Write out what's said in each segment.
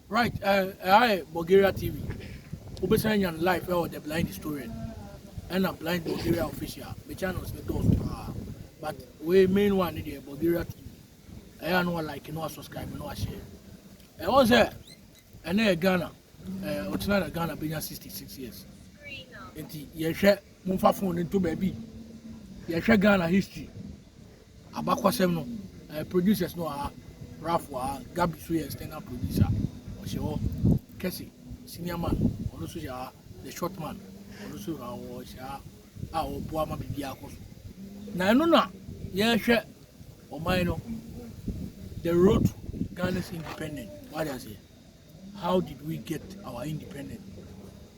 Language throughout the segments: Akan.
Right, eh, ɛha yɛ Bulgaria TV. Wobɛsan anya no live ɛwɔ The Blind Historian ɛna Blind Bulgaria Official. Me channels no dɔɔso paa. But wei main one ne deɛ Bulgaria TV. Ɛyɛ a na like na subscribe na share. Ɛwɔ sɛ ɛnɛ yɛ Ghana, eh, ɔkyena na Ghana bɛnya 66 years. Nti yɛhwɛ momfa phone no nto baabi. Yɛhwɛ Ghana history. Abakɔsɛm no, eh, producers no wɔ ha, Ralph wɔ ha, Gabi so yɛ external producer, ɔhyɛ hɔ, Kɛse, senior man, ɔno nso hyɛ ha, The Short Man, ɔno nso ha, ɔhyɛ ha a ɔboa ma biribiara kɔ so. Na ɛno na yɛhwɛ ɔman no, the road to Ghana's independence, wade aseɛ. How did we get our independence?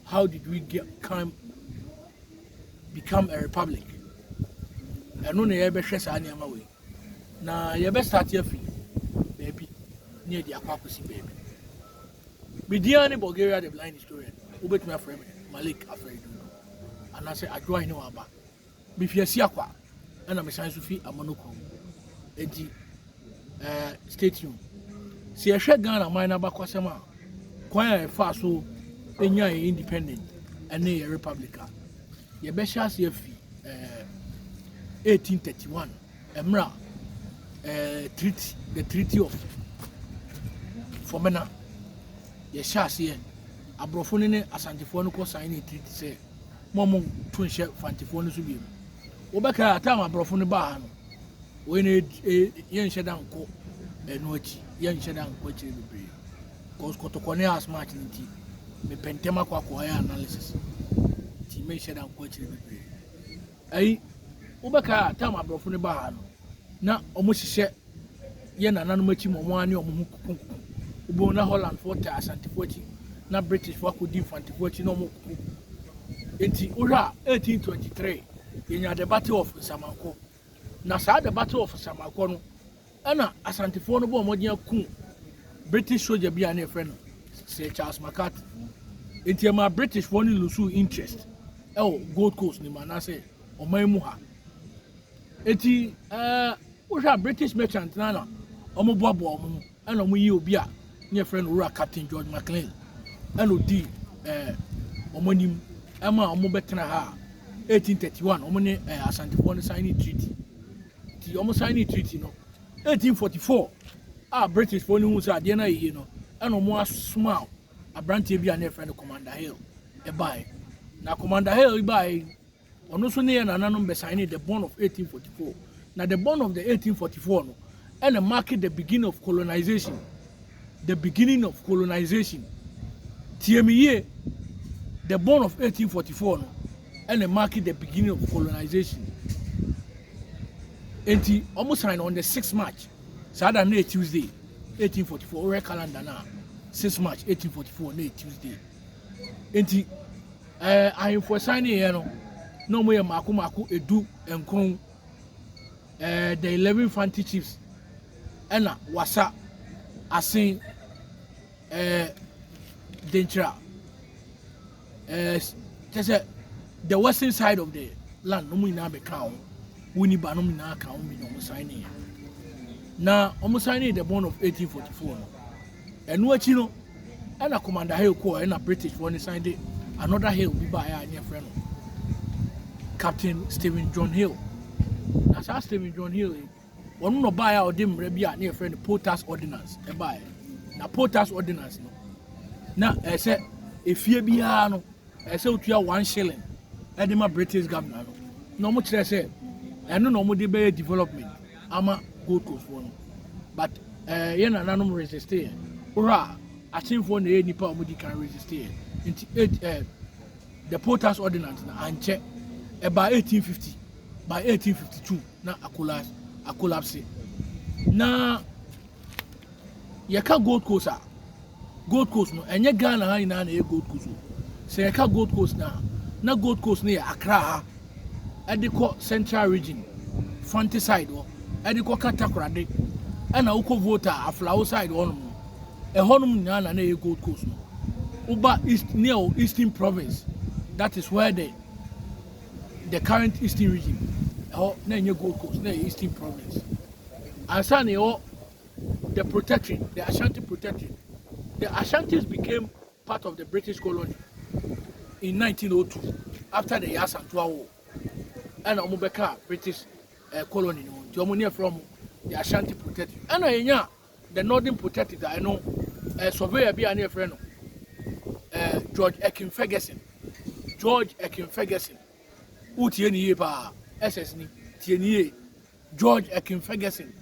How did we get come become a republic? Ɛno na yɛbɛhwɛ saa nneɛma wei na yɛbɛsate afi baabi ne yɛde akɔ akɔsi baabi medin ne bulgaria the blind historian wobɛtumi afrɛ me malik afrɛ du anaasɛ adwoa ne waba Mifi Asiakwa ɛna mesan nso fi Amono kurom. Enti ɛɛ eh, stay tuned. Sɛ yɛhwɛ Ghana man n'abakɔsɛm a kwan a yɛfaa so enya yɛn independent ɛne yɛn republic a yɛbɛhyɛ ase afi ɛɛ eh, 1831 ɛmmerɛ a ɛɛ eh, treaty the treaty of Fɔmena yɛhyɛ aseɛ aborɔfo no ne asantefoɔ no kɔ sign ne treaty sɛ ma ɔmo to nhyɛ fantefoɔ no so bio wobɛka a tam aborɔfo no baa ha no wei no yɛnhyɛ da nkɔ ɛno akyi yɛnhyɛ da nkɔ akyire bebree cause kɔtɔkɔ ne asmart no nti mepɛ ntɛm akɔ akɔyɛ analysis nti menhyɛ da nkɔ akyire bebree Ɛyi, wobɛkae a tam aborɔfo no baa no, na wɔhyehyɛ yɛ nananom akyi ma wɔn a ne wɔn ho kokonkono. Wobɛhu na Hollandfoɔ taa Asantefo akyi, na Britishfoɔ akɔdi Mfantefo akyi na wɔn koko. Enti wohwɛ a 1823 yɛnya the Battle of Nsamanko. Na saa the Battle of Nsamanko no Ɛna Asantefoɔ no bɔɔ mmɔden akum British soja bi a na yɛfrɛ no Sir Charles McCarthy. Enti ɛmaa Britishfoɔ no lusuu interest ɛwɔ Gold Coast no mu anaasɛ ɔman mu ha. Enti ɛɛ wohwɛ a British merchant no na wɔboaboa wɔn ho ɛna wɔyi obi a na yɛfrɛ no Owura Captain George McLean ɛna ɔdii ɛɛ wɔn anim ɛma wɔbɛtena ha a 1831 wɔn ne ɛɛ Asantefoɔ no sign treaty. nti wɔn signing treaty no. 1844 a British foɔ no hu sɛ adeɛ no ayɛ yie no ɛna wɔn asoma aberanteɛ bi a na yɛfrɛ no Commander Hill ɛbaeɛ na Commander Hill baeɛ ɔno nso ne yɛ nananom bɛ signing the bond of 1844 na the bond of the 1844 no ɛna mark the beginning of colonization The Beginning of Colonization, Tie Me Yie, The Bone of 1844 no ɛna mark the beginning of colonization enti wɔn sign on the 6 march saa da no yɛ tuesday 1844 wɔyɛ calendar no a 6 march 1844 no yɛ tuesday enti ɛɛ eh, ahemfo sign yɛ no na wɔn yɛ mako mako edu nkron eh, the eleven fanti chiefs ɛna wasa asen eh, denkyira eh, kyɛ sɛ the western side of the land wɔn nyinaa bɛka wɔn wɔn ni ba no nyinaa ka wɔn bi na wɔn san ne na wɔn san ne the bond of eighteen forty four no. Ɛno akyi no ɛna Commander Hill kɔɔ ɛna British foɔ no san de another Hill bi baeɛ a ne yɛfrɛ no Captain Stephen John Hill na saa Stephen John Hill yi wɔn na ɔbaeɛ a ɔde mmerɛ bi a ne yɛfrɛ no Potas Ordinance ɛbaeɛ na Potas Ordinance no na ɛsɛ efie biara no ɛsɛ otua one shilling ɛde ma British governor no na wɔn kyerɛ sɛ ɛno na wɔn de bɛyɛ development. ama gold coast foɔ no but eh, yɛ nananom resiste yɛ wohwɛ a asenfoɔ na ɛyɛ nipa a wɔdi kan resiste yɛ nti eight eh, the poll tax ordinance na ankyɛ ɛbaa 1850 by 1852 na akolas akolapse na yɛka gold coast a Gold Coast no, ɛnyɛ Ghana ha nyinaa na ɛyɛ Gold Coast o. Sɛ yɛka Gold Coast no a, na Gold Coast no yɛ Accra ha, ɛde kɔ Central Region, Fante side hɔ, ɛde kɔka Takoradi, ɛna wokɔ Volta, Aflao side hɔnom no. Ɛhɔnom nyinaa na na ɛyɛ Gold Coast no. Woba East, near o Eastern Province, that is where the the current Eastern Region, ɛhɔ na ɛnyɛ Gold Coast, na ɛyɛ Eastern Province. Ansa na ɛwɔ the Protectorate, the Ashanti Protectorate. The Ashantis became part of the British colony in 1902 after the Yasantua War. And wɔn bɛka British uh, colony no nti wɔn ne from the Ashanti Protectorate. And I know the Northern Protectorate I know uh, surveyor bi a ne yɛfrɛ no uh, George Ekin Ferguson. George Ekin Ferguson. Wotie ne yie paa. SS ni. Tie ne yie. George Akin-Ferguson,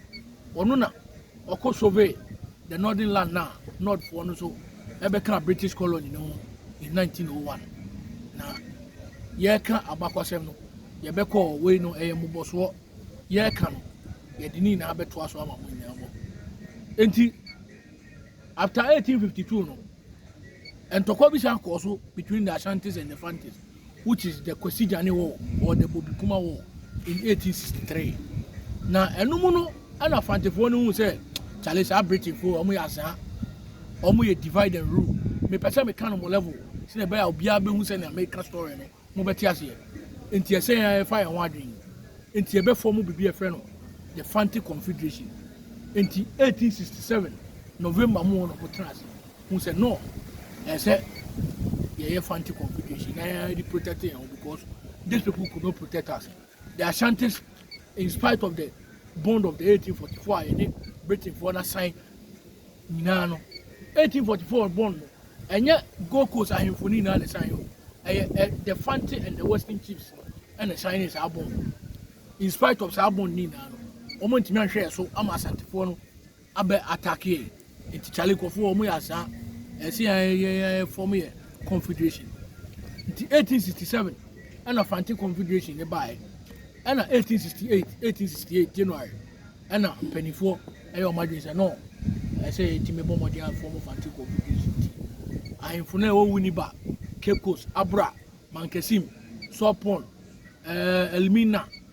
ɔno na ɔkɔ survey the northern land na north foɔ no so ɛbɛka British colony no ho in 1901 na yɛreka abakwasɛm no yɛbɛkɔ wei no ɛyɛ mmobɔsoɔ yɛreka no yɛde ne nyinaa bɛtoa so ama mo nyinaa bɔ nti after 1852 no ntɔkwa bi san kɔɔ so between the Ashantis and the Fantis which is the Kwasi Gyane war or the Bobikuma war in 1863. Na ɛno mu no ɛna Frantefoɔ no hu sɛ kyale saa Britainfoɔ wɔn yɛ azaa wɔn yɛ divide and rule mepɛ sɛ meka no mo level sɛ ɛbɛyɛ a obiara bɛhu sɛ nea meka story no mobɛte aseɛ nti ɛsɛ yɛn ɛfa yɛn ho adwene nti ɛbɛfɔ mu biribi ɛfrɛ no the Fante Confederation nti 1867 November mu no motena ase hu sɛ no ɛsɛ yɛyɛ fanti confederation na yɛde protect yɛn ho because these people could not protect us the ashantis in spite of the bond of the 1844 a yɛne britain foɔ na sign nyinaa no 1844 bond no ɛnyɛ gold coast ahemfo no nyinaa na sign o ɛyɛ the fanti and the western chiefs no ɛna sign saa bond in spite of saa bond no nyinaa no wɔn ntumi anhwɛ yɛ so ama asantefoɔ no abɛ attack yɛn nti Charlie nkurɔfoɔ wɔn yɛ asaa ɛsɛ yɛn yɛn yɛn form yɛ confederation nti 1867 ɛna Fante confederation ne baeɛ ɛna 1868 1868 January ɛna mpanimfoɔ ɛyɛ wɔn adwene sɛ no ɛsɛ yɛtumi bɔ mmɔden afɔm Fante confederation nti ahemfo no a ɛwɔ Winneba Cape Coast Abra Mankasim Sopon ɛɛ Elmina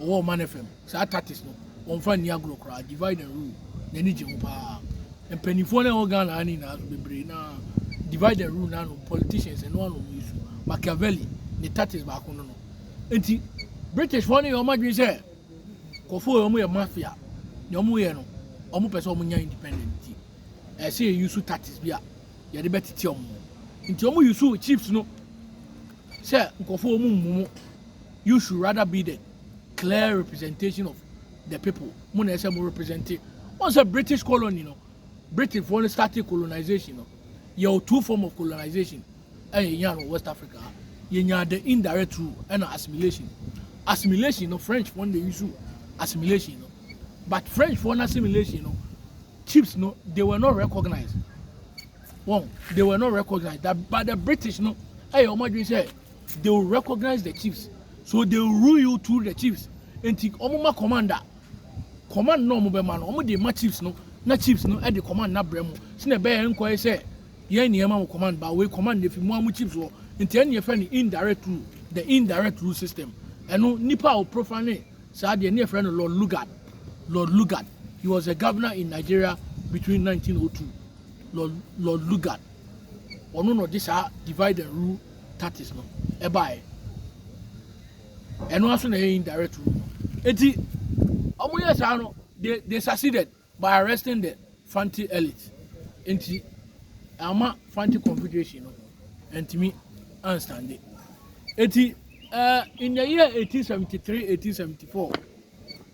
Wɔwɔ Ɔman FM. Saa tactics no, wɔmfa nni agorɔ koraa. Divide and rule, n'ani gye ho paa. Mpanimfoɔ no a ɛwɔ Ghana ha no nyinaa nso, bebree no ara, divide and rule no ara nom, politicians, ɛno ara nom wɔn su. Machiavelli, ne tactics baako no no. Enti, Britishfoɔ no yɛ wɔn adwene sɛ, nkurɔfoɔ wei, wɔyɛ mafia. Nea wɔyɛ no, wɔpɛ sɛ wɔnya independent nti, ɛsɛ sɛ yɛuse tactics bi a yɛde bɛtete wɔn. Nti, wɔuse chiefs no Sɛ nkurɔfoɔ wɔn mmu mo, you should rather be the clear representation of the people. Mo na ɛsɛ mo represent. Wɔn sɛ British colony no, British foɔ no started colonization no. Yɛ o two form of colonization ɛna yɛ nya no West Africa. Yɛ nya the indirect rule ɛna assimilation. Assimilation no French foɔ no na use assimilation no. But French foɔ no assimilation no, chiefs no, they were not recognized. wɔn they were not recognized that but the british no ɛyɛ wɔn adwene sɛ they will recognize the chiefs so they will rule you through the chiefs nti wɔn ma commander command na wɔn bɛ ma no wɔn de ma chiefs no na chiefs no ɛde command na brɛ mu sinɛ bɛyɛ nkɔ yɛ sɛ yɛn ni ɛma mo command ba wei command na efi mu amu chiefs wɔ nti ɛni efɛ ni indirect rule the indirect rule system ɛno nipa a o profane saa deɛ ne efɛ no lord lugard lord lugard he was a governor in nigeria between 1902 Lord, Lord Lugard, ɔno na ɔde saa divide and rule tactics no ɛbaeɛ. Ɛno ara nso na ɛyɛ indirect rule no. Eti, wɔyɛ saa no, they, they succeeded by arresting the Fanti elite. Nti, ama Fanti Confederation no, ɛntumi anstande. Eti, uh, in the year 1873, 1874,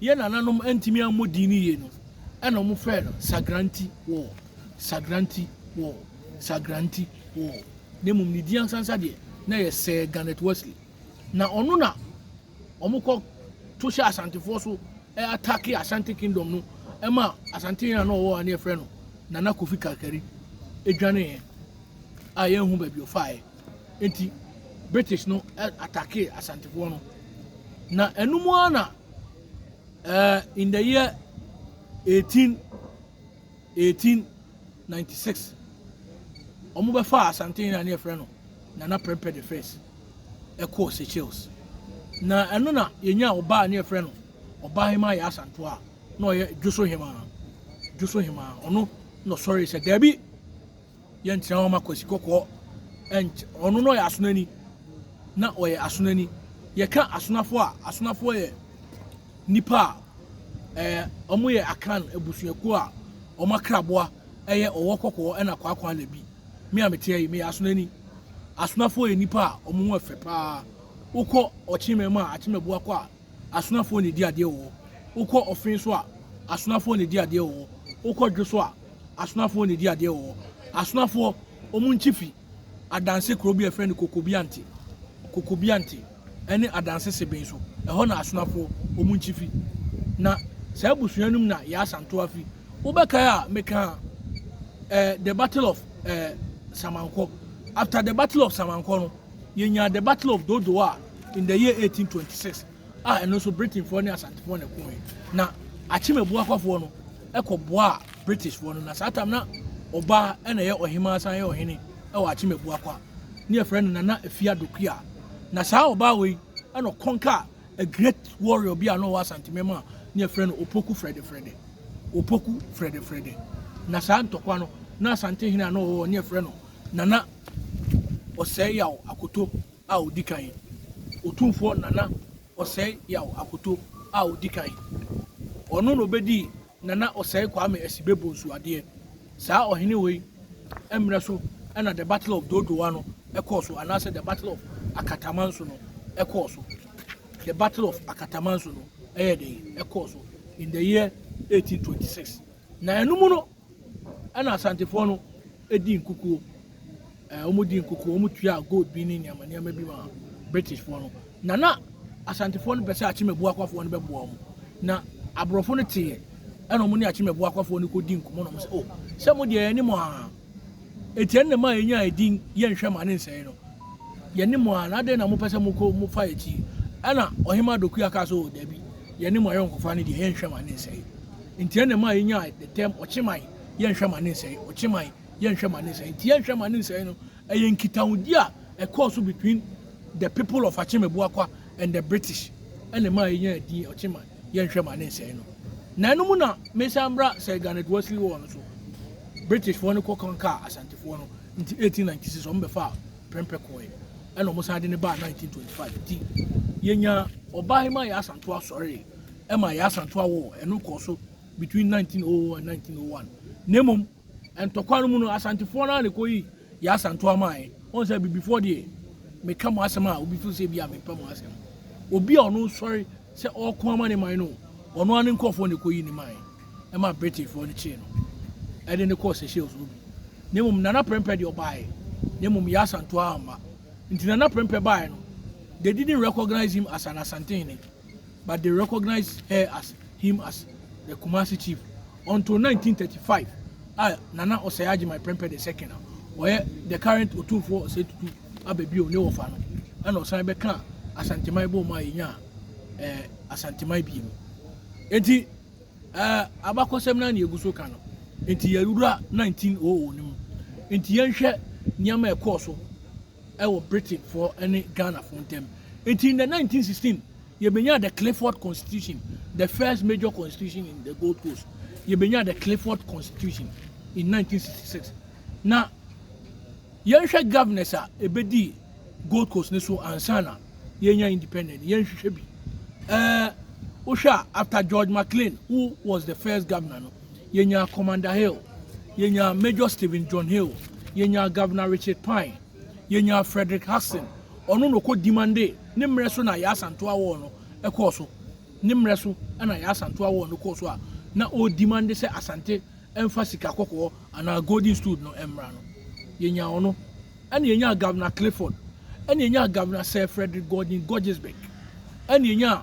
Yɛn nananom antumi ammɔ din no yie no, ɛna wɔfrɛɛ no Sagranti Wall, Sagranti Wall, Sagranti Wall, na mmom ne din ankasa ankasa deɛ, na ɛyɛ Sir Garnet Wesley. Na ɔno na wɔkɔ to hyɛ Asantefoɔ so atake Asante Kingdom no ma Asante hene a na ɔwɔ hɔ a na yɛfrɛ no Nana Kofi Karkari dwaneeɛ a yɛnhu baabi ɔfaeɛ. Enti British no attackee Asantefoɔ no. Na ɛno mu ara na uh, in the year 18, 1896, wɔn bɛfa Asante na ne yɛfrɛ no Nana Prempeh the first ɛkɔɔ Seychelles. Na ɛno na yɛnya ɔbaa ne yɛfrɛ no ɔbaa hema yɛ Asanto a na ɔyɛ Dwoso hema Dwoso hema ɔno na ɔsɔre sɛ daabi Yɛnkyerɛ wɔn ma Kwasi Kɔkɔɔ nkyɛ. Ɔno no ɔyɛ asonani na ɔyɛ asonani. Yɛka asonafo a, asonafo yɛ nnipa a ɛɛ wɔn yɛ Akan abusuakuo a wɔn akraboa ɛyɛ ɔwɔ kɔkɔɔ ɛna kwaakwa na bi. Me a meteɛ yi meyɛ asonani. Asonafo yɛ nnipa a wɔn ho yɛ fɛ paa. Wokɔ ɔkyemɛ mu a akyemɛboa kɔ a asonafoɔ na ɛdi adeɛ wɔ hɔ, wokɔ ɔfe nso a, asonafoɔ na ɛdi adeɛ wɔ hɔ, wokɔ dwo so a, asonafoɔ na ɛdi adeɛ wɔ hɔ. Asonafoɔ, wɔn nkyi fi Adanse kuro bi a yɛfrɛ no Kokobiante, Kokobiante, ɛne Adanse Seben so, ɛhɔ na asonafoɔ, wɔn nkyi fi. Na saa abusua no mu na Yaa Santoa fi. Wobɛkae a mekaa eh, the battle of eh, Samankɔ. After the battle of Samankɔ no, Yɛnyaa The Battle of Dodowa a in the year 1826 a ɛno nso Britainfoɔ ne Asantefoɔ na ɛkooe. Na Akyemabuakwafoɔ no ɛkɔ boaa Britishfoɔ no na saa tam na ɔbaa ɛna ɛyɛ ɔhemaa san yɛ ɔhene ɛwɔ Akyemabuakwa ne ɛfrɛ no Nana Afia Dokuya. Na saa ɔbaa wei ɛna ɔkɔnka a great warrior bi a na ɔwɔ Asantemem a ne ɛfrɛ no Opoku Frɛde Frɛde. Opoku Frɛde Frɛde. Na saa ntɔkwa no na Asante hene a na ɔwɔ ne ɛfrɛ no Nana Ɔsɛe Yaw Akoto a Odi Kan, Otumfoɔ Nana Ɔsɛe Yaw Akoto a Odi Kan. Ɔno na obedii Nana Ɔsɛe Kwame Asibe Bonsu adeɛ. Saa ɔhene wei mmerɛ so na The Battle of Dodowa no kɔɔ so anaasɛ The Battle of Akatamanso no kɔɔ so. The Battle of Akatamanso no ɛyɛ dɛn ɛkɔɔ so in the year 1826. Na ɛno mu no, Ɛna Asantefoɔ no di nkukuo, ɛɛ wɔn di nkukuo, wɔn tua gold bi ne nneɛma nneɛma bi ma Britishfoɔ no. Na na Asantefoɔ no pɛ sɛ Akyemabuakwafoɔ no bɛboa wɔn. Na aborɔfo no teɛ, ɛna wɔn ne Akyemabuakwafoɔ no kɔdi nkɔmmɔ na wɔn sɛ, o, sɛ mo deɛ yɛne mo aa, eti ɛne ma yɛnya edin yɛnhwɛ ma ne nsɛe no. Yɛne mo aa, na adɛn na mopɛ sɛ mokɔ mofa yɛn akyi? Ɛna Ɔhema Dokua kaa sɛ, o, dabi, yɛne mo ayɔnkofa no deɛ yɛnhwɛ ma ne nsɛe. Nti ɛna ɛmaa yɛnyaa the term Ɔkyeman, yɛnhwɛ ma ne nsɛe, Ɔkyeman, yɛnhwɛ ma ne nsɛe. Nti yɛnhwɛ ma ne nsɛe no, ɛyɛ nkitahodi a ɛkɔɔ so between the people of Akyeme Boakwa and the British ɛna ɛmaa yɛnyaa din Ɔkyeman, yɛnhwɛ ma ne nsɛe no. Na ɛno mu na mesan bra Sir Garnet Worsley War no so. Britishfoɔ no kɔ conquer Asantefoɔ no, nti 1896 wɔn bɛfaa Prempeh kɔɔɛ, ɛna wɔsan de no baa 1925. Nti yɛnyaa Ɔbahema Yaa Asantew Asɔre, ɛma yɛn asanto awo ɛno kɔɔ so between 1900 and 1901 na mmom ntɔkwa no mu no asantefoɔ no a na ɛkɔyi yɛn asanto amaeɛ wɔn sɛ abibifoɔ deɛ meka mo asɛm a obi fo sɛ bi a mepɛ mo asɛm obi a ɔno sɔre sɛ ɔko ama ne man no ɔno ano nkurɔfoɔ na ɛkɔyi ne man ɛma britifoɔ no kyee no ɛde ne kɔɔ seychelles no bi na mmom nana prɛmpɛ deɛ ɔbaeɛ na mmom yɛn asanto amma nti nana prɛmpɛ baeɛ no they didn't recognize him as an asantehene but they recognize her as him as the Kumasi chief until 1935 a Nana Osei Agyemang Prempeh the second a ɔyɛ the current Otumfoɔ Osei Tutu abɛbio ne wɔfa no ɛna ɔsan bɛka Asanteman bɔɔ mu a yɛnya eh, Asanteman bie mu enti eh, abakɔsɛm no ne ɛgu so ka no enti yɛwura 1900 no mu enti yɛnhwɛ nneɛma ɛkɔɔ so wɔ Britainfoɔ ne Ghanafoɔ ntam. Nti in the 1916, yɛbɛnyaa the Clifford Constitution, the first major constitution in the Gold Coast. Yɛbɛnyaa the Clifford Constitution in 1966. Na yɛnhwɛ governors a ɛbɛdii Gold Coast ne so ansa na yɛnya independent, yɛnhwehwɛ bi. Uh, wohwɛ a after George McLean, who was the first governor no, Yɛnyaa Commander Hill, yɛnyaa Major Stephen John Hill, yɛnyaa Governor Richard Pine, yɛnyaa Frederick Hudson, ɔno na ɔkɔ Dimande, ne mmerɛ so na Yaa Asantewaa War no kɔɔ so, ne mmerɛ so na Yaa Asantewaa War no kɔɔ so a na ɔredimande sɛ Asante mfa sika kɔkɔɔ anaa Golden Stood no mmra no. Yɛnyaa ɔno. Ɛna yɛnyaa Governor Clifford, ɛna yɛnyaa Governor Sir Frederick Gordon Gorgesburg, ɛna yɛnyaa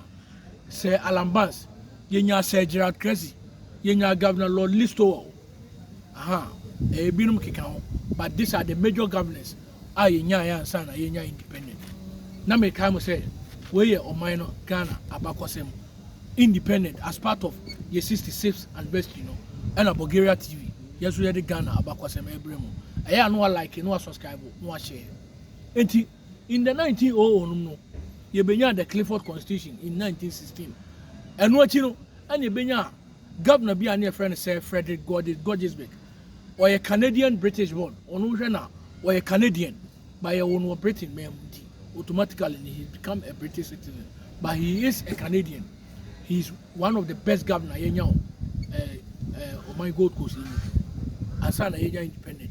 Sir Alan Barnes, Yɛnyaa Sir Gerald Cressy, yɛnyaa Governor Lord Listowel, ahaa, ɛɛ, binom keka ho, but these are the major governors a yɛnyaeɛ ansa na yɛnya independent. Na mekae mo sɛ, wei yɛ ɔman no Ghana abakɔsɛm. Independent as part of yɛ 66th anniversary no, ɛna Bulgaria TV, yɛn nso yɛde Ghana abakɔsɛm ɛrebrɛ mo. Ɛyɛ a na wa like, na wa subscribe, na wa share. Enti. In the 1900 nom no, yɛbɛnyaa the Clifford Constitution in 1916. Ɛno akyi no, ɛna yɛbɛnyaa Governor bi a na yɛfrɛ no Sir Frederick Gorges, Gorgesburg. Ɔyɛ Canadian British born, ɔno wohwɛ no a, ɔyɛ Canadian, but yɛwoo no wɔ Britain man mu nti, automatically no he has become a British citizen, but he is a Canadian. He is one of the best governor yɛnya wɔ eh, eh, ɔman Gold Coast yi mu, ansa na yɛnya independent.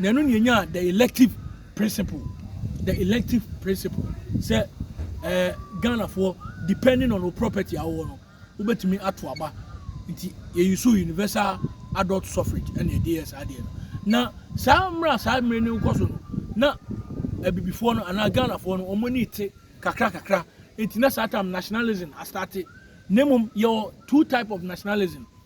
na ɛno na yɛnyaa the elective principle the elective principle sɛ ɛɛ eh, ghanafoɔ depending on wo property a wowɔ no wobɛtumi ato aba nti yɛyi so universal adult suffrage ɛna ɛde yɛ saa adeɛ no na saa mmerɛ saa mmerɛ no nkɔ so no na abibifoɔ no anaa ghanafoɔ no wɔn ani te kakra kakra nti na saa tam nationalism astate na mmom yɛwɔ two type of nationalism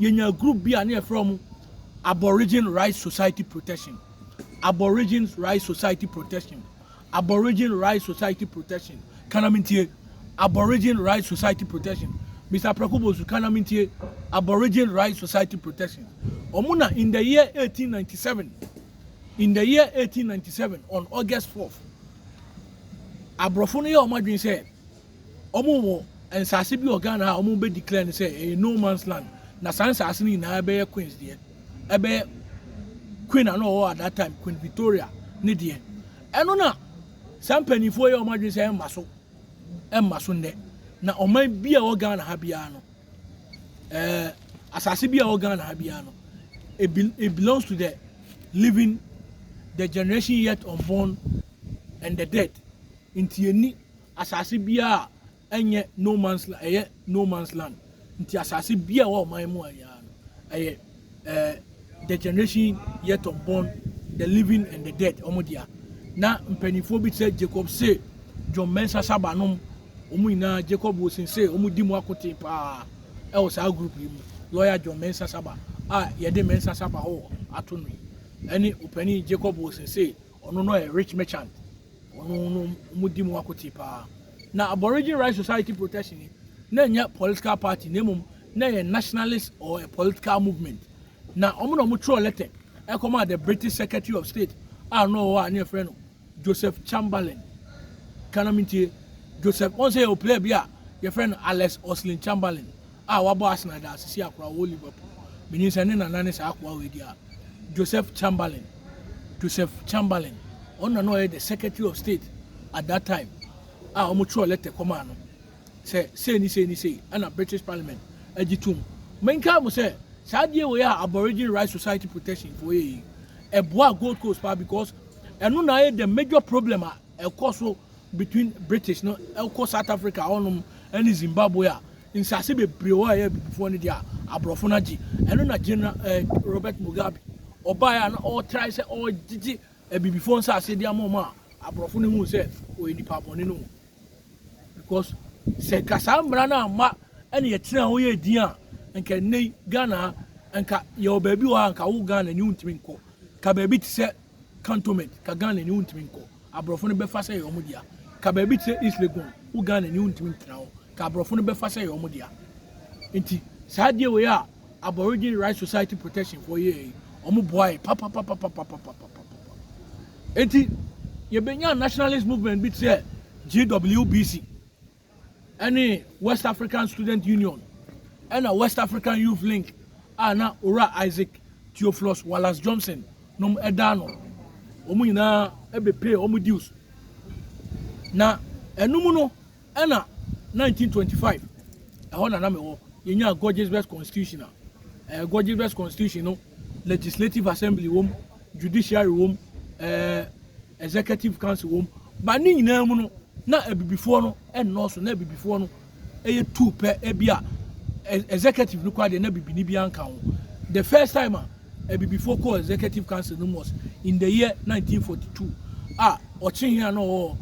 Yɛnyaa group bi a na yɛfrɛ wɔn Aborigine Rights Society Protection, Aborigines Rights Society Protection, Aborigine Rights Society Protection, ka na mentie, Aborigine Rights Society Protection, Mister Prako Bosu, ka na mentie, Aborigine Rights Society Protection. Wɔn na in the year 1897, in the year 1897, on August 4th, aborɔfo no yɛ wɔn adwene sɛ, wɔn wɔ nsaase bi wɔ Ghana a wɔn bɛ declare no sɛ ɛyɛ no man's land na saa nsaase no nyinaa ɛbɛyɛ Queen's deɛ ɛbɛyɛ Queen a na ɔwɔ at that time Queen Victoria ne deɛ ɛno na saa mpanyinfoɔ yɛ wɔn adwene sɛ ɛmma so ɛmma so nnɛ na ɔman bi a wɔ Ghana ha biara no ɛɛ asaase bi a wɔ Ghana ha biara no it, be, it belongs to the living the generation yet unborn and the dead nti ɛni Asase biara a ɛnyɛ no man's land, ɛyɛ no man's land nti asase biara ɛwɔ ɔman mu a nyinaa no ɛyɛ ɛɛ the generation yet unborn, the living and the dead wɔn dea. Na mpanimfoɔ bi te sɛ Jacob Say, John Mensah Saba nom, wɔn nyinaa Jacob Wilson Say wɔn di mu akoten paa ɛwɔ saa group yi mu. Lawyer John Mensah Saba a yɛde Mensah Saba hɔ ato no yi ɛne opanin Jacob Wilson Say ɔno no yɛ rich merchant ɔno no ɔmo di mu akote paa na aborigine right society protection ni na nyɛ political party na mmom na yɛ nationalist or a political movement na ɔmo na ɔmo twerɛ letter ɛkɔmaa the british secretary of state a na ɔwɔ a ne yɛfrɛ no joseph chamberlain kanam ntie joseph wɔn sɛ yɛ ɔpilɛ bi a yɛfrɛ no alex oslin chamberlain a wabɔ Arsenal adaase si akoa ɔwɔ Liverpool. Minim sɛ ne nana ne saa akoa wei di a, Joseph Chamberlain, Joseph Chamberlain. Ɔno na na ɔyɛ the Secretary of State at that time a wɔtwerɛɛ lɛtɛ kɔmaa no sɛ sei ne sei ne sei ɛna British Parliament agye tom. Menkae mo sɛ saa adeɛ wei a Aborigine Rights Society Protection foɔ yɛ yi, ɛboaa Gold Coast paa because ɛno na ayɛ the major problem a ɛkɔ so between British no kɔ South Africa hɔnom ne Zimbabwe a, nsase bebree wɔ hɔ a ɛyɛ abibifoɔ no deɛ a, aborɔfo no agye. Ɛno na General eh, Robert Mugabe ɔbaeɛ a na ɔretrae sɛ ɔregyegye abibifoɔ nsase de ama wɔn a aborɔfo no hu sɛ ɔyɛ nipa bɔne no. Because sɛ nka saa mmara no amma ɛne yɛtena hɔ yɛ din a, nka nnɛ yi Ghana ha, nka yɛwɔ baabi wɔ ha nka wo Ghana ni wontumi nkɔ. Ka baabi te sɛ cantonment ka Ghana ni wontumi nkɔ aborɔfo no bɛfa sɛ ɛyɛ wɔn dea ka baabi te sɛ East Legon wo Ghana ni wontumi ntena hɔ ka aborɔfo no bɛfa sɛ ɛyɛ wɔn dea nti saa adeɛ wei a Aborigine Rights Society protection foɔ yɛɛ yi wɔn boae papapapapapapapa nti yɛbɛnya nationalist movement bi te sɛ GWBC ne West African Student Union na West African Youth Link a na Owura Isaac Theophilus Wallace Johnson nom da ano. Wɔn nyinaa bepee wɔn dues. Na ɛno mu no ɛna 1925 ɛhɔ na na mewɔ yɛnyaa Gorges West Constitution a ɛɛ Gorges West Constitution no Legislative Assembly wɔ mu judiciary wom, ɛɛ executive council wom, but ne nyinaa mu no na abibifoɔ no nnɔɔso, na abibifoɔ no yɛ two pɛ, ebi a executive no kɔ adeɛ na bibini bi anka ho. The first time a abibifoɔ kɔɔ executive council no was in the year 1942 a ɔkyehe a na ɔwɔ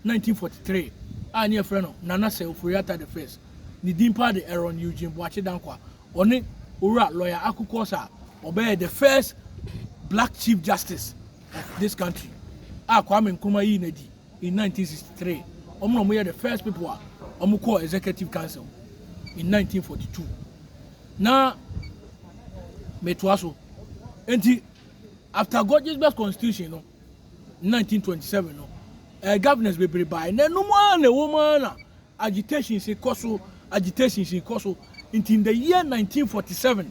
1943 a ne yɛfrɛ no Nana Sɛ Ofori Atta the first, ne din paa de Aaron Eugene Boakye Dankwa. Ɔne Owura Lawyer Aku Quorsa a ɔbɛyɛɛ the first black Chief Justice of this country a Kwame Nkrumah yii no adi in nineteen sixty three. Wɔn na wɔyɛ the first people a wɔkɔɔ Executive Council in nineteen forty two. Na metoa so. Enti after Gisbert Constitution no, nineteen twenty seven no, ɛɛ governors bebree bae, na ɛnom ara na ɛwɔ mu ara na agitations kɔ so, agitations kɔ so, nti in the year nineteen forty seven,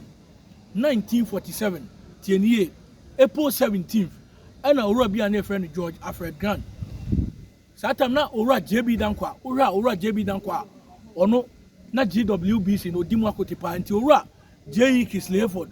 nineteen forty seven, tie ne yie, April seventeenth, ɛna owura bi a na yɛfrɛ no George Alfred Grant, saa tam na owura JB Dankwa, wohwɛ a owura JB Dankwa a, ɔno na GWBC na ɔdi mu akote paa, nti owura JE Kisleyford,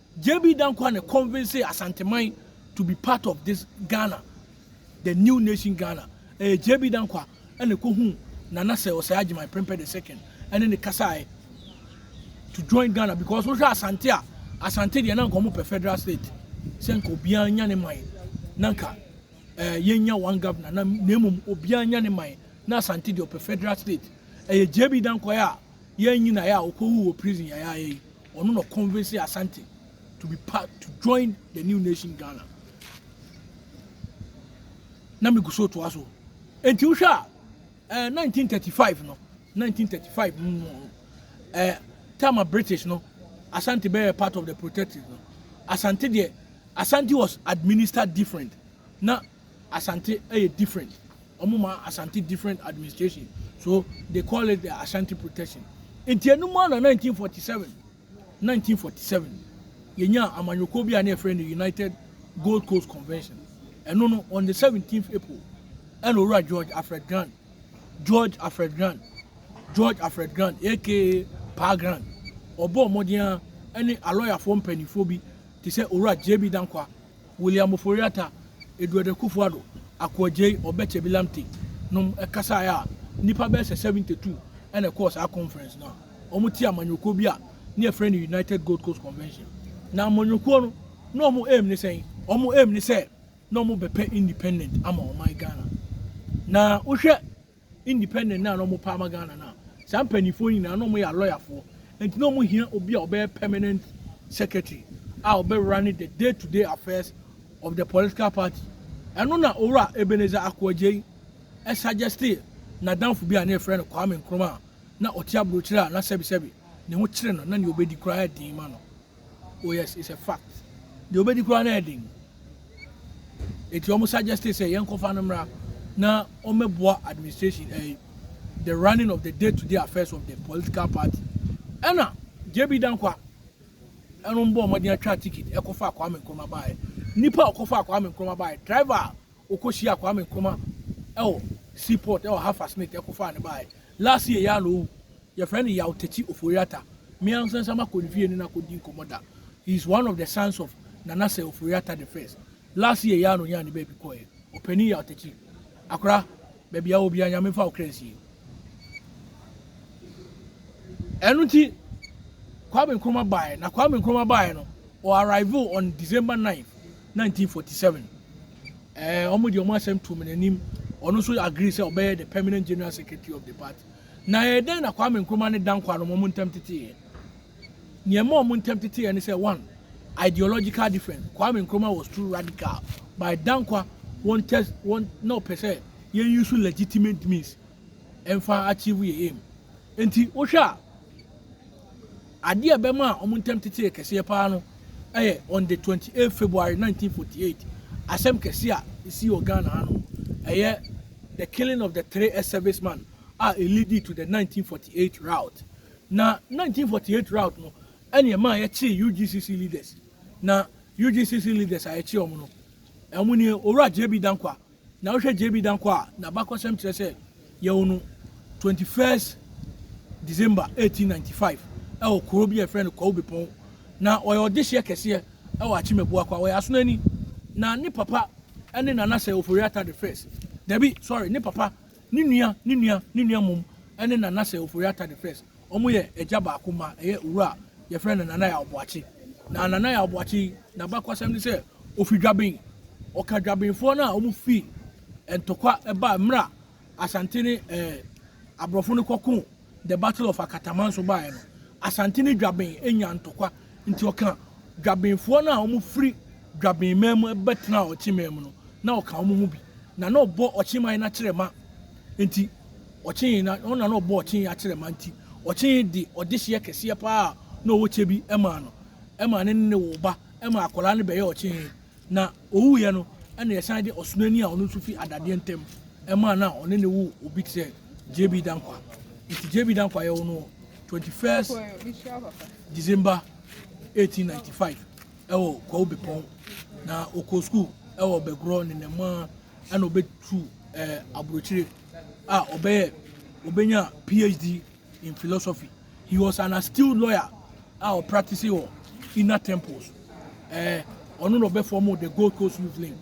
JB Danquah na convincee Asanteman to be part of this Ghana, the new nation Ghana. Ɛyɛ JB Danquah na ɛkɔhuu Nana Sir Osei Agyemang Prempeh the second ɛne ne kasaeɛ to join Ghana because wohwɛ Asante a, Asante deɛ na nka wɔpɛ federal state sɛ nka obiara nya ne man na nka eh, yɛnya one governor na na mmom obiara nya ne man na Asante deɛ ɔpɛ federal state. Ɛyɛ JB Danquah a yɛn nyinaeɛ a ɔkɔwu wɔ prison yɛayɛ yi. ɔno na ɔconvince Asante to be part to join the new nation Ghana na megu so toa so nti wohwɛ a ɛɛ eh, 1935 no 1935 mu no ɛɛ eh, time a British no Asante bɛyɛ part of the protective no Asante deɛ Asante was administered different na Asante yɛ different ɔmo ma Asante different administration so they call it the Ashanti protection nti ɛno mu a na 1947 1947 yɛnyaa amanyɔkuo bi a na yɛfrɛ no United Gold Coast Convention ɛno no on the 17th April ɛna owura George Alfred Grant George Alfred Grant George Alfred Grant aka Pa Grant ɔbɔ mmɔden a ɛne alɔyafoɔ mpanimfoɔ bi te sɛ owura JB Dankwa William Ofori Atta, Edward Akuffo Addo, Ako Adjei, Obed Kyebi Lamptey nom kasae a nnipa bɛyɛ sɛ 72 na ɛkɔɔ saa conference no a wɔte amanyɔkuo bi a ne yɛfrɛ no United Gold Coast Convention. Na amanyɔkuo no na wɔn aim ne sɛn? Wɔn aim ne sɛ na wɔbɛpɛ independent ama ɔman Ghana. Na wohwɛ independent no a na wɔpɛ ama Ghana no a, saa mpanimfoɔ yi nyinaa na wɔyɛ alɔyafoɔ. Nti na wɔhia obi a ɔbɛyɛ permanent secretary a ɔbɛ running the day to day affairs of the political party. Ɛno na Owura Ebenezer Ako Adjei suggestee n'adamfo bi a na yɛfrɛ no Kwame Nkrumah a na ɔte aburokyire a na sɛbesɛbe ne ho kyere no na nea ɔbɛdi koraa yɛ den ma no. Oh yes, it's a fact. Deɛ ɔbɛdi koraa na ɛden. Eti wɔn suggest sɛ yɛn kɔfa no mmra na wɔmɛboa administration ɛyi eh, the running of the day to day affairs of the political party. Ɛna JB Dankwa ɛno mbɔ wɔn den atwa ticket ɛkɔfa Kwame Nkrumah baayɛ. Nipa a ɔkɔfa Kwame Nkrumah baayɛ driver a Ɔkɔhyiaa Kwame Nkrumah wɔ sea port wɔ Hafast Nate kɔfaa no baeɛ. Last year yi ara na ɔwu. Yɛfrɛ no Yaw Takyi Ofori-Atta. Me ankasa nso makɔ ne fie ne no akɔdi nkɔmmɔ da. He is one of the sons of Nana Sir Ofori-Atta the first. Last year yi ara na ɔnyaa ne baabi kɔeɛ. Ɔpanin Yaw Takyi, akora, baabi a wɔ biara Nyame mfa wo kra nsie. Ɛno nti Kwame Nkrumah baeɛ. Na Kwame Nkrumah baeɛ no, ɔ arrivee on December 9th. Nineteen forty seven ɛɛ ɔmo de ɔmo asɛm too me n'anim, ɔno nso agree sɛ ɔbɛyɛ the permanent general secretary of the party. Na ɛyɛ dɛn na Kwame Nkrumah ne Danquah nom ɔmo ntɛm teteeɛ? Nea ɛma ɔmo ntɛm teteeɛ ne sɛ, one, ideological difference, Kwame Nkrumah was too radical, but Danquah wɔn tɛ wɔn na ɔpɛ sɛ yɛn use legitimate means ɛmfa achieve yɛn aim. Nti wohwɛ a, Ade a ɛbɛmaa wɔn ntam tete yɛ kɛseɛ paa no yɛ on the twenty eight February nineteen forty eight asɛm kɛseɛ a ɛsii wɔ Ghana ha no, ɛyɛ the killing of the three S service man a ɛ leadi to the nineteen forty eight rout. Na nineteen forty eight rout no ɛne ɛmaa yɛkyee UGCC leaders. Na UGCC leaders a yɛkyee wɔn no, wɔn nie, Owura JB Dankwah, Na wohwɛ JB Danko a n'abakɔsɛm kyerɛ sɛ yɛwo no twenty first December eighteen ninety five ɛwɔ kuro bi a yɛfrɛ no Kwawu Bepɔn. Na ɔyɛ ɔdehyeɛ kɛseɛ ɛwɔ Akyem Abuakwa. Ɔyɛ Asonani. Na ne papa ɛne Nanasɛ Ofori-Atta the first. Dabi, sorry, ne papa Ne nua, ne nua, ne nua mmom ne Nanase Ofori-Atta the First. Wɔyɛ agya baako mma, ɛyɛ owura a wɔfrɛ no Nana Yaw Boakye. Na Nana Yaw Boakye yi, n'abakɔsɛm ne sɛ ofi Dwaben. Ɔka Dwabenfoɔ no a wɔfii ntɔkwa baa mmerɛ a Asante ne ɛɛ aborɔfo no kɔkoo The Battle of Akatamanso baeɛ no, Asante ne Dwaben nyaa ntɔkwa, nti ɔka Dwabenfoɔ no a wɔfiri Dwaben man mu bɛtenaa Ɔkye man mu no, na ɔka wɔn ho bi, na na ɔbɔ Ɔkye man no akyerɛma nti, Ɔkye na ɔno na na ɔbɔ Ɔkye akyerɛma nti, Ɔkye de ɔdehyeɛ kɛseɛ pa ara na ɔwɔ kyɛ bi maa no, ɛmaa ne ne ne woo ba, ɛmaa akwadaa no bɛyɛɛ Ɔkye, na. Owuiɛ no na yɛsan de ɔsonani a ɔno nso fi adadeɛ ntam maa no a ɔne ne wo obi te sɛ JB Dankwa. Nti JB Dankwa yɛwo no 21st December 1895 ɛwɔ Kwawu Bepɔn na ɔkɔɔ sukuu ɛwɔ Bɛgorɔ ne Nɛmaa ɛna ɔbɛtu ɛɛ aburokyire a ɔbɛyɛ ɔbɛnya PhD in philosophy. He was an astute lawyer a ɔ practice wɔ inner temples. Eh, ɔno na ɔbɛ form the Gold Coast Youth Link.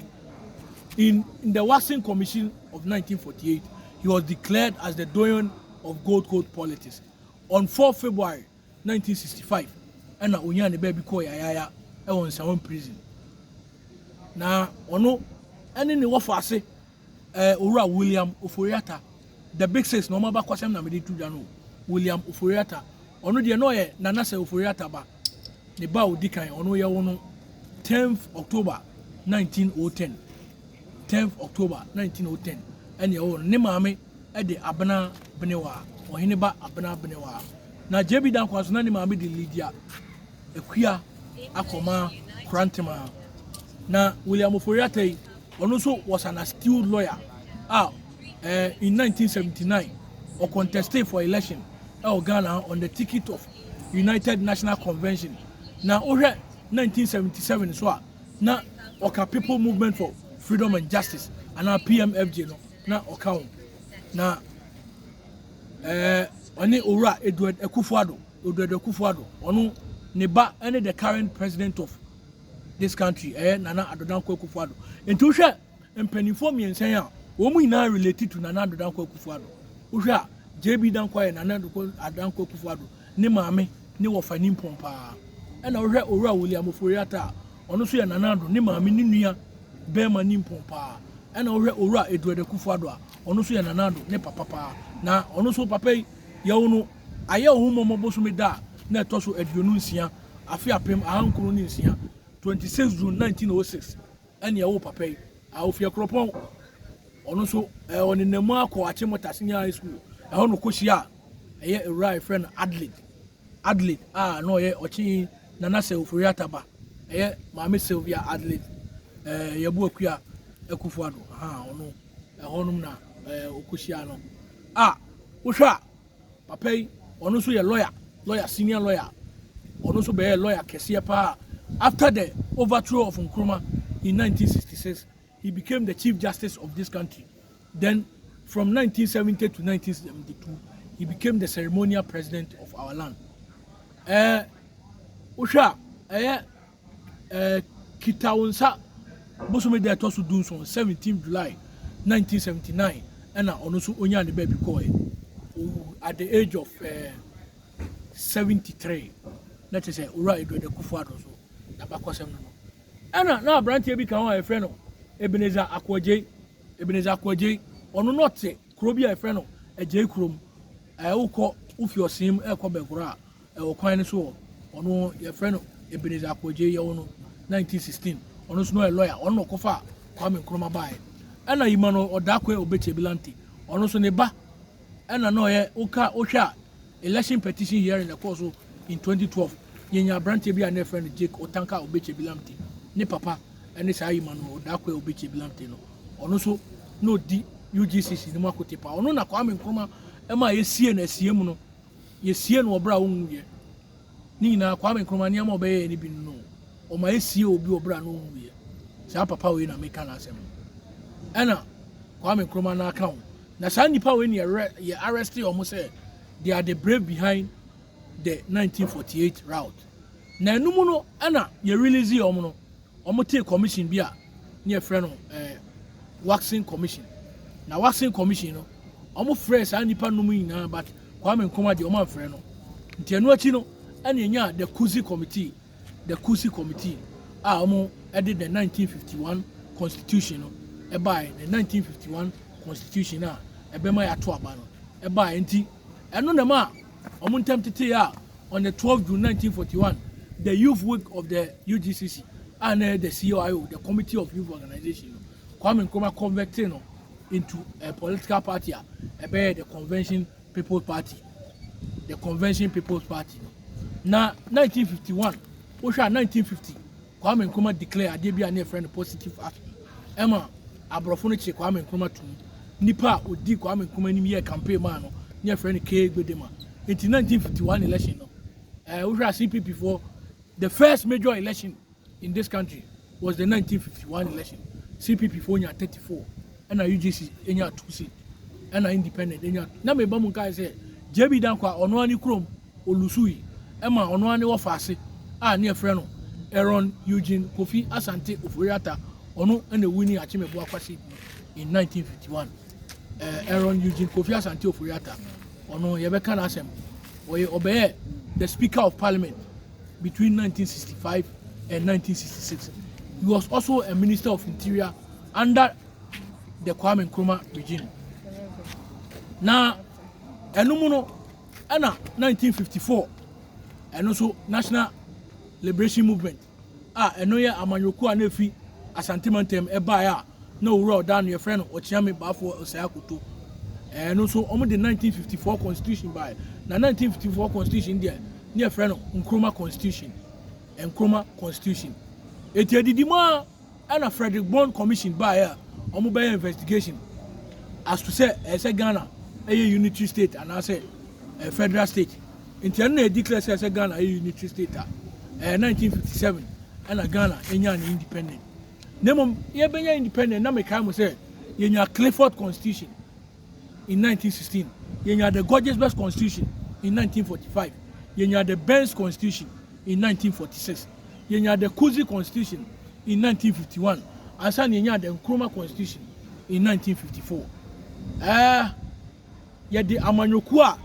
In, in the Waxing Commission of 1948, he was declared as the doyen of Gold Coast politics. On 4 February 1965, ɛna onyaa ne baabi kɔɔ yayaaya ɛwɔ Nsawam prison. Na ɔno ɛne ne wɔfo ase Eh, Owura William Ofori-Atta, the big six na wɔn abakɔsɛm na mede to dwa no o. William Ofori-Atta, ɔno deɛ na ɔyɛ Nana Sir Ofori-Atta ba. Ne ba a ɔdi kan, ɔno yɛwo no 10th October 1910. 10th October 1910 ɛne yɛwo no. Ne maame de Abena Benewaa, ɔhene ba Abena Benewaa. Na JB Dankwah nso na ne maame de Lydia Akua Akɔmaa Korantema. Na William Ofori-Atta yi, Ɔno nso was an astute lawyer a eh, in 1979 ɔ conteste for election ɛwɔ Ghana ha on the ticket of United National Convention na wohwɛ 1977 so a na ɔka People Movement for Freedom and Justice anaa PMFJ no na ɔka ho na eh, ɔne owura Edward Akufo-Addo Odwadu Akufo-Addo ɔno ne ba ɛne the current president of this country ɛyɛ Nana Addo Dankwa Akufo Addo nti wohwɛ mpanimfoɔ mmiɛnsa yi a wɔn nyinaa relate to Nana Addo Dankwa Akufo Addo wohwɛ a JB Dankwa yɛ Nana Addo Dankwa Akufo Addo ne maame ne wɔfa nimpɔn paa ɛna wohwɛ Owura William Ofori Atta a ɔno nso yɛ Nana Addo ne maame ne nua bɛrima nimpɔn paa ɛna wohwɛ Owura Edward Akufo Addo a ɔno nso yɛ Nana Addo ne papa paa na ɔno nso papa yi yɛwo no ayɛ ɔho mmɔmmɔ bosome da a na ɛtɔ so aduonu nsia afe apem ahankron ne nsia, 26 June 1906 ɛne ɛwoo papa yi, a ofi Akuropɔn. Ɔno nso, ɛɛ ɔnenam mu akɔ Achimota Senior High School, ɛhɔ na ɔkɔhyia a ɛyɛ awura a yɛfrɛ no Adelaide. Adelaide a na ɔyɛ ɔkye Nana Sɛ Ofori Atta ba, ɛyɛ Maame Sylvia Adelaide ɛɛ Yabu Akua Akufo-Addo, ahaa ɔno ɛhɔnom na ɛɛ ɔkɔhyia no. A wohwɛ a Papa yi ɔno nso yɛ lawyer, lawyer senior lawyer, ɔno nso bɛyɛɛ lawyer kɛseɛ paa. After the overthrow of Nkrumah in 1966, he became the Chief Justice of this country. Then from 1970 to 1972, he became the ceremonial president of our land. Eh, wohwɛ a, ɛyɛ Ɛɛ Kita Wo Nsa bosome da a ɛtɔ so dunson, seventeenth July, nineteen seventy nine, ɛna ɔno nso onyaa ne baabi kɔɔɛ. Owu at the age of ɛɛ seventy three. Na kyerɛ sɛ Owura Edward Akuffo Addo nso n'abakɔsɛm no no. Ɛna na abranteɛ bi ka ho a yɛfrɛ no Ebenezer Ako Agyei. Ebenezer Ako Agyei, ɔno na ɔte kuro bi a yɛfrɛ no Agyei Kurom. Ɛɛ wokɔ wofi Ɔsee mu ɛɛkɔ Bɛnkoro a, Ɛwɔ kwan no so hɔ. Ɔno yɛfrɛ no Ebenezer Akwegyei yɛwo no 1916. Ɔno nso na ɔyɛ lɔya. Ɔno na ɔkɔfaa Kwame Nkrumah baeɛ. Ɛna Emmanuel Odaakwe Obetsie Bilante, ɔno nso ne ba ɛna na ɔyɛ woka wohwɛ a election petition hearing na ɛkɔɔ so in 2012. Yɛnya aberanteɛ bi a na yɛfrɛ no Jake Otanka Obetsie Bilante. Ne papa ɛne saa Emmanuel Odaakwe Obetsie Bilante no. Ɔno nso na ɔdi UGCC no mu akote paa. Ɔno na Kwame Nkrumah ɛma yɛsiee no asiam no. Yɛsiee no wɔ berɛ a ɔnwuiɛ. Ne nyinaa, Kwame Nkrumah nneɛma a ɔbɛyɛeɛ no bi no, wɔma yɛsiee obi wɔ berɛ a na ɔnwuiɛ. Saa papa wei na meka n'asɛm no. Ɛna Kwame Nkrumah nan ka ho. Na saa nnipa wei na yɛwerɛ, yɛ arrestee wɔn sɛ they are the brave behind the 1948 rout. Na ɛno mu no ɛna yɛ releasee wɔn no. Wɔtee commission bi a ne yɛfrɛ no eh, waxing commission. Na waxing commission no, wɔfrɛɛ saa nnipa nom nyinaa but Kwame Nkrumah deɛ wɔamfrɛ no. Nti ɛno akyi no, ɛne ɛnyaa the Kusi committee, the Kusi committee a wɔde the 1951 constitution no ɛbaeɛ, the 1951 constitution a ɛbɛma yɛato aba no ɛbaeɛ nti Ɛno na ɛmaa wɔn ntam tetee a on the 12 June 1941, the Youth Week of the UGCC, a na ɛyɛ the CYO, the Committee of Youth Organization no, Kwame Nkrumah converted no into a political party a ɛbɛyɛ the Convention People's Party. The Convention People's Party no. Na 1951, wohwɛ a 1950 Kwame Nkrumah declare adeɛ bi a ne yɛfrɛ no positive action ɛma aborɔfo no kye Kwame Nkrumah to mu nipa a ɔdi Kwame Nkrumah anim yɛɛ campaign maa no ne yɛfrɛ no K Gbedema nti 1951 election no ɛɛ wohwɛ a CPP foɔ the first major election in this country was the 1951 election CPP foɔ nya 34 ɛna UGC nya 2 seat ɛna independent nya na meba mu nkae sɛ JB Dankwa ɔno ani kurom Olusui ma ɔno ara ne wɔfaase a ne yɛfrɛ no Aaron Eugene Kofi Asante Ofori-Atta, ɔno na owui ne Akyemeboa Kwasi in 1951. Eh, Aaron Eugene Kofi Asante Ofori-Atta, ɔno yɛbɛka n'asɛm. Ɔyɛ ɔbɛyɛ the Speaker of Parliament between 1965 and 1966. He was also a Minister of Interior under the Kwame Nkrumah regime. Na ɛno mu no, Ɛna 1954, ɛno nso National Liberation Movement a ɛno yɛ amanyɔkuo a na efi Asante mantam ɛbaeɛ a na owura ɔda ano yɛfrɛ no Ɔkyeame Baafoɔ Osei Akoto. Ɛno nso wɔn de 1954 constitution baeɛ na 1954 constitution deɛ ne yɛfrɛ no Nkrumah constitution. Nkrumah constitution. Eti edidi mu a. Ɛna Fredrick Bond Commission baeɛ a wɔn bɛyɛ investigation as to sɛ ɛyɛ sɛ Ghana ɛyɛ unitary state anaasɛ ɛyɛ federal state. Nti ɛno na yɛ declare sɛ ɛyɛ sɛ Ghana ɛyɛ unitary state a ɛyɛ 1957 ɛna Ghana ɛnyaa ne independent. Na mmom yɛbɛnya independent na mekae mo sɛ yɛnya Clifford Constitution. in nineteen sixteen, yɛnyaa the Gorges Best Constitution in nineteen forty five, yɛnyaa the Benz Constitution in nineteen forty six, yɛnyaa the Kuzi Constitution in nineteen fifty one, ansa na yɛnyaa the Nkrumah Constitution in nineteen fifty four. Ɛɛ yɛde amanyɔkuo a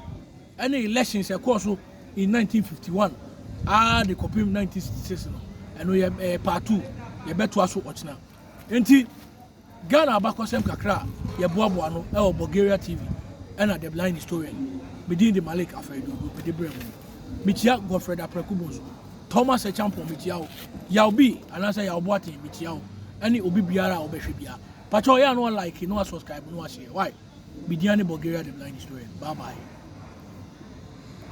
ɛne elections ɛkɔɔ so in nineteen fifty one ara de kɔpem nineteen sixty six no ɛno yɛ ɛɛ part two yɛbɛtoa so ɔkyena nti. Ghana abakɔsɛm kakra a yɛboaboa ano wɔ Bulgaria TV na The Blind Historian mu. Me din de Malik Afaiduogu, mede brɛ mo yi. Mekyia Godfred Apraku Bonsu, Thomas Acheampong mekyia wo, Yaw Bi anaasɛ Yaw Boateng mekyia wo, ɛne obi biara a ɔbɛhwɛ biara. Pakyɛw ɔyɛ a na wa like na wa subscribe na wa share wai. Me din ane Bulgaria The Blind Historian. Bye bye.